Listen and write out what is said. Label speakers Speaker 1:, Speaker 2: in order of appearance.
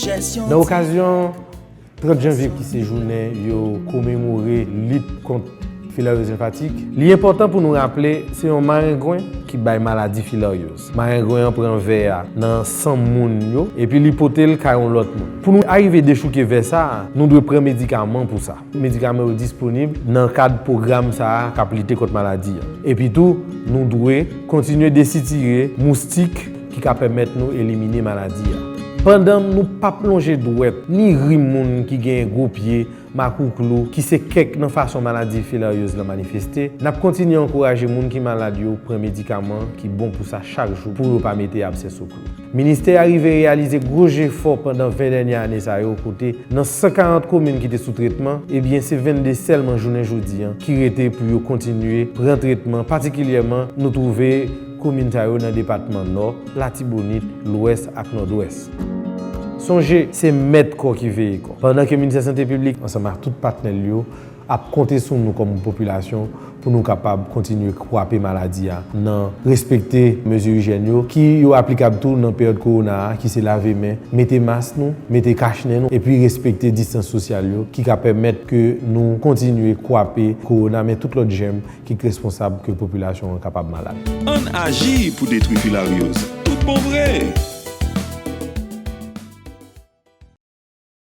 Speaker 1: Nan okazyon 30 janvye ki se jounen yo komemore lit kont filaryoz enfatik, li enpòtan pou nou raple se yon marengwen ki bay maladi filaryoz. Marengwen an pran vè a nan san moun yo epi li pote l kay yon lòt moun. Pou nou arive dechouke vè sa a, nou dwe pran medikaman pou sa. Medikaman yo disponib nan kad pwogram sa a k ap lite kont maladi a. Epitou, nou dwe kontinye desitire moustik ki ka pèmèt nou elimine maladi a. Pandan nou p ap lonje dwèt ni ri moun ki gen gwo pye, makouklou, ki se kèk nan fason maladi filaryoz la manifeste, n ap kontinye ankouraje moun ki malad yo pran medikaman ki bon pou sa chak jou pou yo pa mete absè sou. Ministè a rive reyalize gwo jefò pandan 20 dènye ane sa yo kote nan 140 komin ki te sou tretman, ebyen se 22 sèlman jounen jodi an ki rete pou yo kontinye pran tretman patikilyèman nou twouve komin sa yo nan depatman Nò, Latibonit, Lwès ak Nòdwès. Sonje, se mèt kò ki veye kò. Pandan ke Ministè Sante Piblik ansanm ak tout patnè l yo ap konte sou nou kòm popilasyon pou nou kapab kontinye kwape maladi a nan respekte mezi ijyèn yo ki yo aplikab tou nan peryòd kowona a ki se lave men, mete mas nou, mete kach nen nou epi respekte distans sosyal yo ki ka pèmèt ke nou kontinye kwape kowona men tout lòt jèm ki k responsab ke popilasyon an
Speaker 2: kapab
Speaker 1: malad. Ann
Speaker 2: aji pou
Speaker 1: detwi filaryoz tout
Speaker 2: bon vre!